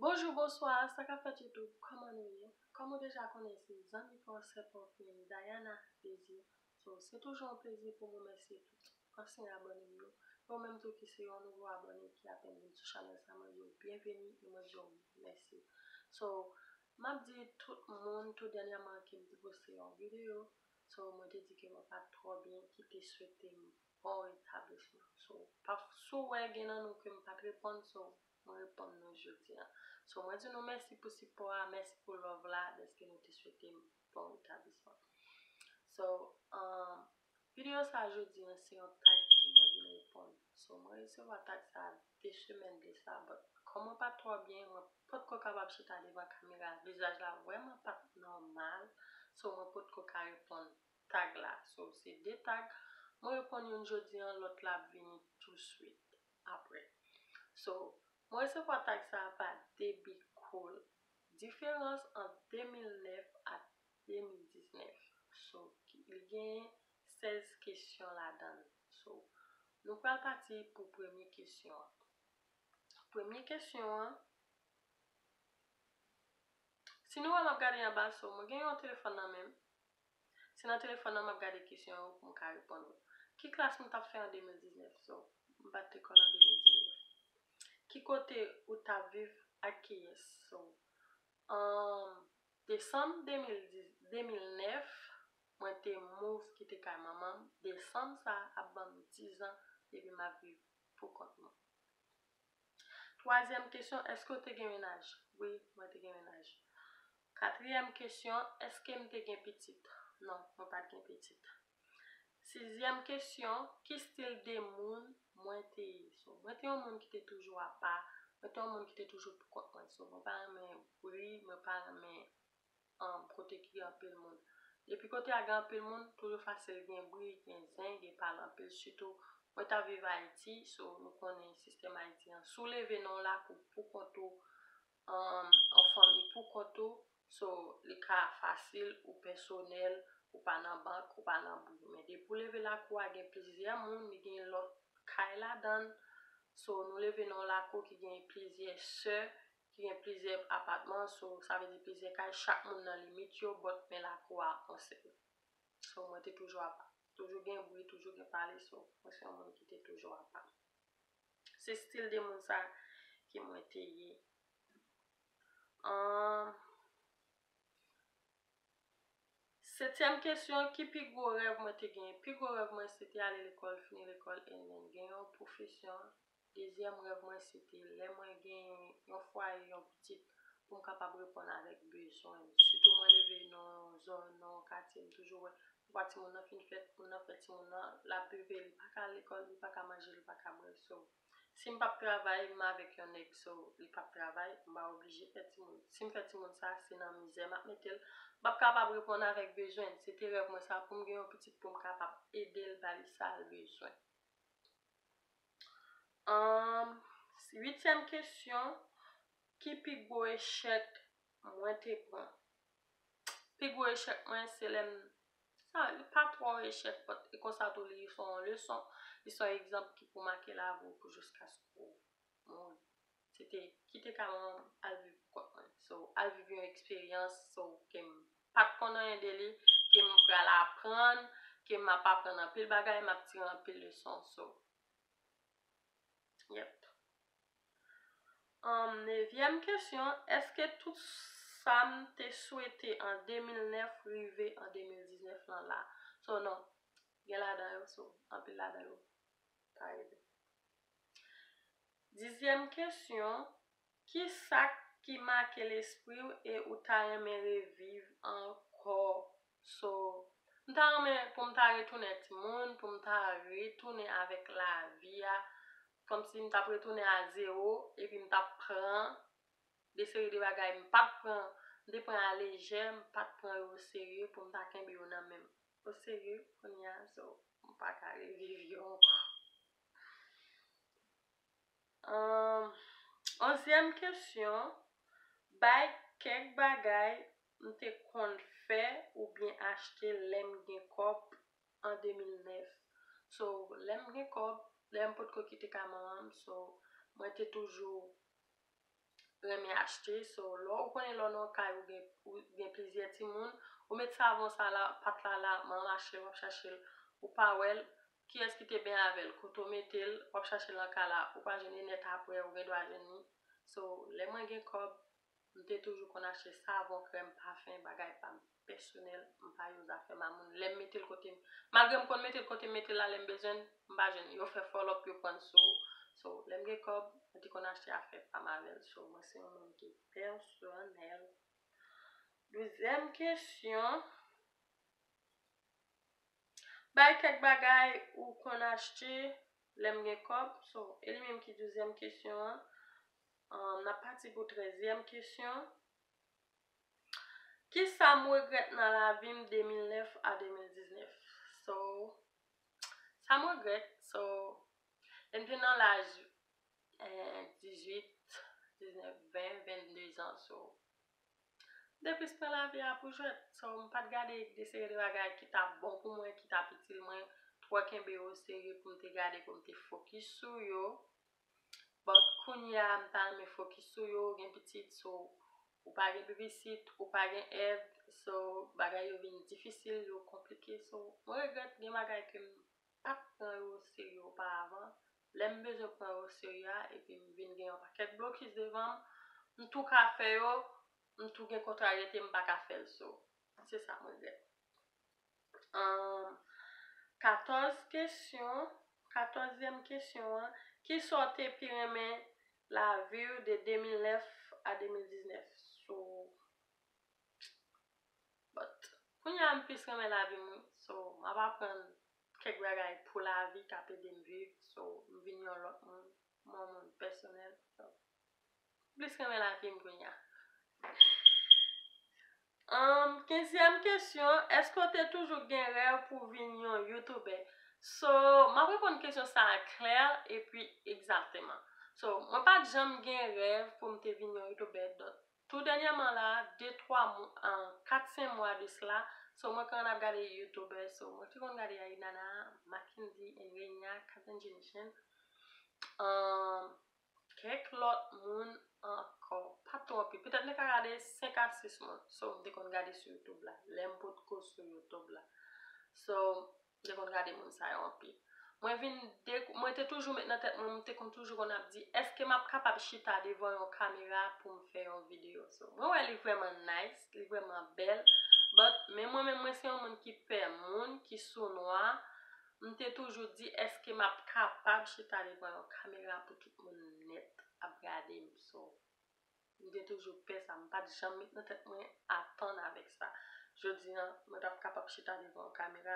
Bonjou bonswa sa kap fèt youtube kòman nou ye kòm ou deja konnen se zanmi pa w sè pa w frè n Dayana Désir so se toujou yon plezi pou m remèsye tout ansyen abòne m yo e w menm tou ki se yon nouvo abòne ki apèn vin sou chanèl sa mwen di w byenveni e mwen di w mèsi so map di tout moun tou dènyèman ke m te poste yon videyo so mwen te di ke mwen pat twò byen ki te swete m bon retablisman so paf si w wè gen nan nou ke m pat reponn so Mwen reponn nou jodi an. So mwen di nou mèsi pou sipò a, mèsi pou love la dèske nou te swete m bon retablisman. So umm video sa jodi an se yon tag ke mwen vin reponn. So mwen resevwa tag sa 2 semèn de sa but kòm mwen pat twò byen mwen potko kapab chita devan kamera vizaj la vrèman pat nòmal so mwen potko ka reponn tag la. So se 2 tag mwen reponn youn jodi an lòt la ap vini tou swit. apre so mwen resevwa tag sa pa debit cool diferans ant 2009 ak 2019 so li genyen 16 kesyon ladann so nou pral pati pou premye kesyon an premye kesyon an si nou wè map gade anba so mwen gen yon telefòn nan menm. Se nan telefòn nan m ap gade kesyon yo pou m ka reponn ou. Ki klas nou t ap fè an 2019? So, m pa t te konn an 2019. Ki kote ou t ap viv? Ak kiyès? So, an desanm 2010, 2009, mwen te move kite kay manman m, desanm sa a ap ban m dizan depi m ap viv poukont mwen. Twazyèm kesyon, Èske w te gen menaj? Wi, mwen te gen menaj. Katriyèm kesyon, Èske m te gen pitit? Non, mwen pa t gen pitit. Sizyèm kesyon, Ki stil de moun mwen te ye? So, mwen te yon moun ki te toujou apa, mwen te yon moun ki te toujou poukont mwen. So, mwen pa renmen bri, mwen pa renmen. an kote ki gen anpil moun. Depi kote a gen anpil moun, toujou fasil gen bri, gen zen, gen pale anpil sitou mwen tap viv Ayiti, so nou konnen sistèm Ayiti an. Si w leve nan yon lakou pou kont ou, an fanmi pou kont ou, so li ka fasil ou pèsonèl, ou pa nan bank, ou pa nan bri. Men depi w leve lakou a gen plizyè moun, li gen lòt kay ladan l, so nou leve nan yon lakou ki gen plizyè sè, ki gen plizyè apatman so sa vle di plizyè kay chak moun nan limit yo bòt men lakou a konsèn so mwen te toujou apa toujou gen bri toujou gen pale so mwen se yon moun ki te toujou apa se stil de moun sa ki mwen te ye an setyèm kesyon ki pi gwo rèv mwen te genyen pi gwo rèv mwen se te ale lekòl fini lekòl e mwen gen yon pwofesyon Dezyèm rèv mwen se te lè mwen gen yon fwaye, yon pitit pou m kapab reponn avèk bezwen l. Sitou mwen leve nan yon zòn, nan yon katye m toujou wè papa timoun nan fin fèt, moun nan fè timoun nan, l ap vive, li pa ka al lekòl, li pa ka manje, li pa ka bwè. So, si m p ap travay, m avèk yon nèg, so, li p ap travay, m va oblije fè timoun. Si m fè timoun sa, se nan mizè m ap mete l. M p ap kapab reponn avèk bezwen l. Se te rèv mwen sa pou m gen yon pitit pou m kapab ede l, ba li sa l bezwen. Anm uityèm kesyon ki pi gwo echèk mwen te pran. Pi gwo echèk mwen se lèm sa li pa twò echèk bòt e konsa tou li son leson, li son egzanp ki pou make lavi w pou jiskaske w mouri. Se te kite kay mwen al viv pou kont mwen. So, al viv yon eksperyans so ke m pa t konn anyen de li, ke m pral aprann, ke m ap aprann anpil bagay, m ap tire anpil leson. So, yep. An nevyèm kesyon, èske tout sa m te swete an 2009 rive an 2019 lan la? So, non. Gen ladan yo, so, anpil ladan yo pa rive. Dizyèm kesyon, Ki sa k ki make lespri w e ou ta renmen reviv ankò? So, m ta renmen pou m ta retounen timoun, pou m ta retounen avèk lavi a, kòmsi m t ap retounen a zewo, epi m t ap pran de seri de bagay m pa t pran, m te pran a lejè, m pa t pran yo oserye pou m ta kenbe yo nan men m oserye, kounye a, so, m pa ka reviv yo ankò. Humm onzièm kesyon bay kèk bagay m te konn fè oubyen achte lèm gen kòb an 2009 so lèm gen kòb lèm potko kite kay manmanm so mwen te toujou renmen achte so lè ou konnen lè ou nan yon kay ou gen ou gen plizyè timoun ou met savon sa la pat la la manman achte l wap chache l ou pa wèl Kiyès ki te benyen avèl kote w metel wap chache lan ka la ou pa jwenn li nèt aprè ou gen dwa jwenn li so lè mwen gen kòb m te toujou konn achte savon krèm pafen bagay pam pèsonèl m pa yo zafè mamoun lèm metel kotem malgre m konn metel kotem metel la lèm bezwen l m pa jwenn li yo fè fòlòp yo prann sou ou so lèm gen kòb mwen te konn achte afè pam avèl so mwen se yon moun ki pèsonèl douzyèm kesyon. Bay kèk bagay ou konn achte lè m gen kòb so e li menm ki douzyèm kesyon an n ap pati pou trèzyèm kesyon kisa m regrèt nan lavi m 2009 a 2019 so sa m regrèt so lè m te nan laj 18 19 20 22 zan so Depis pran lavi a pou jwèt so m pat gade de seri de bagay ki tap bon pou mwen ki tap itil mwen twò kenbe yo oserye pou m te gade pou m te fokis sou yo but kounya m ta renmen fokis sou yo ou gen pitit so ou pa gen bebisite ou pa gen èd so bagay yo vin difisil yo konplike so mwen regrèt gen bagay ke m pa t pran yo oserye oparavan, lè m bezwen pran yo oserye a epi m vin gen yon pakèt blokis devan m, m tou ka fè yo, m tou gen kontraryete m pa ka fè l so. Se sa m regrèt. 14 kesyon, Katòzyèm kesyon an, Kisa w te pi renmen lavi w de 2009 a 2019? Sou But kounye a m plis renmen lavi m wi so m ap aprann kèk bagay pou lavi k ap ede m viv so m vin yon lòt moun m yon moun pèsonèl so m plis renmen lavi m kounye a Humm kenzyèm kesyon èske w te toujou gen rèv pou w vin yon youtoubè so m ap reponn kesyon sa a klè epi egzakteman so mwen pa t janm gen rèv pou m te vin yon youtoubè Tou dènyèman la de twa kat sen mwa de sla so mwen konn ap gade youtube so mwen te konn gade a inana makendy and renia kazen jenechèn um kèk lòt moun ankò pa two anpil petèt mwen ka gade 5 a 6 moun so m te konn gade sou youtube la lèm potko sou youtube la so M te konn gade moun sa yo anpil. Mwen vin dekou, mwen te toujou met nan tèt mwen, m te konn toujou konn ap di, èske m ap kapab chita devan yon kamera pou m fè yon videyo? So, mwen wè li vrèman nice, li vrèman bèl, but, men mwen menm mwen se yon moun ki pè moun, ki sounwa, m te toujou di, èske m ap kapab chita devan yon kamera pou tout moun nèt ap gade m? So. M te toujou pè sa, m pa t janm met nan tèt mwen atann avèk sa. Jodi an, mwen pa p kapab chita devan yon kamera,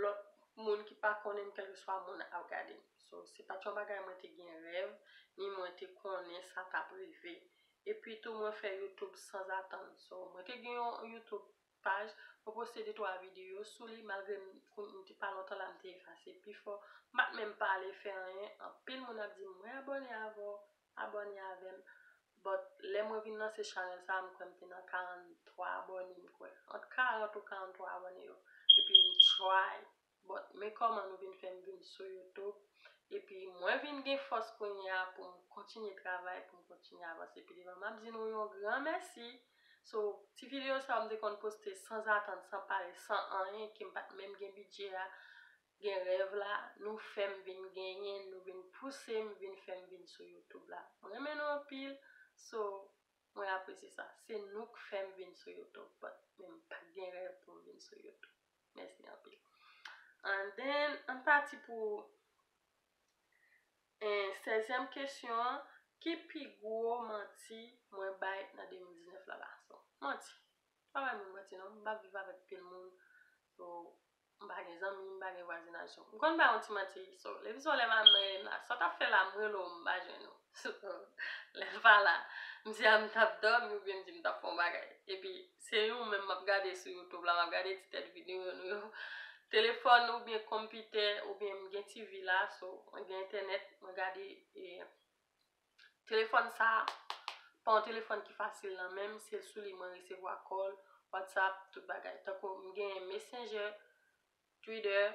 lòt moun ki pa konnen m kèlkeswa moun ap gade m. So, se pa t yon bagay mwen te gen rèv, ni mwen te konnen sa t ap rive. Epi tou mwen fè YouTube sanzatann. So, mwen te gen yon YouTube paj mwen poste de twa videyo sou li malgre m konn m te pa lontan la m te efase pifò m pat menm pale fè anyen anpil moun ap di m mwen abòne avè w abòne avè m but lè mwen vin lanse chanèl sa m kwè m te nan 43 abòne m kwè ant 40 ou 43 abòne yo epi m try Bon men kòman nou vin fèm vin sou YouTube epi mwen vin gen fòs kounye a poum kontinye travay poum kontinye avanse pi devan map di nou yon gran mèsi sou ti video sa yo m te konn poste san zatann san pale san anyen kem pat menm gen bidjè a gen rèv la nou fèm vin genyen nou vin pousem vin fèm vin sou YouTube la m renmen nou anpil so mwen apresye sa se nou k fèm vin sou YouTube but men m pat gen rèv poum vin sou YouTube. Mèsi anpil. And then, ann pati pou sèzyèm kesyon an, ki pi gwo manti mwen bay nan 2019 la Bason? Manti. M pa bay moun manti non. M pa viv avèk pil moun. So, m pa gen zanmi, m pa gen vwazinaj. So, m konn bay yon ti manti. So, levi sou lè m al nan Elen la, sa w t ap fè la m rele w m pa jwenn ou. So, lè m pa la, m di a m t ap dòmi oubyen m di m t ap fè yon bagay. Epi, Se yon menm map gade sou youtube la map gade ti tèt video nou yo telefòn oubyen konpitè oubyen m gen TV la so mwen gen entènèt mwen gade telefòn sa pa yon telefòn ki fasil nan menm se sou li mwen resevwa kòl whatsapp tout bagay tankou m gen messenger twitter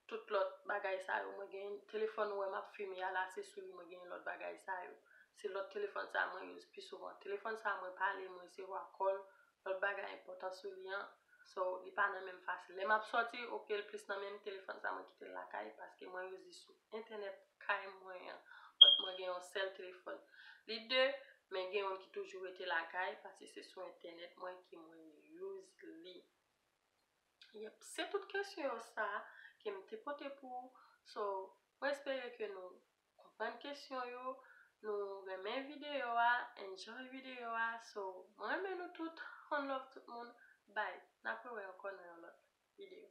tout lòt bagay sa yo mwen gen telefòn ou wè map filme a la se sou li mwen gen lòt bagay sa yo se lòt telefòn sa mwen use pi souvan telefòn sa mwen pale mwen resevwa kòl lòt bagay enpòtan sou li an so li pa nan menm fasil lè map sòti ok l plis nan menm telefòn sa mwen kitel lakay paske mwen use li sou entènèt kay mwen an but mwen gen yon sèl telefòn li de men gen youn ki toujou rete lakay paske se sou entènèt mwen ke mwen use li. Yep se tout kesyon sa ke m te pote pou ou so mwen espere ke nou konprann kesyon yo nou renmen video a enjoy video a so mwen renmen nou tout one love tout moun bye nap wè wè ankò nan yon lot video.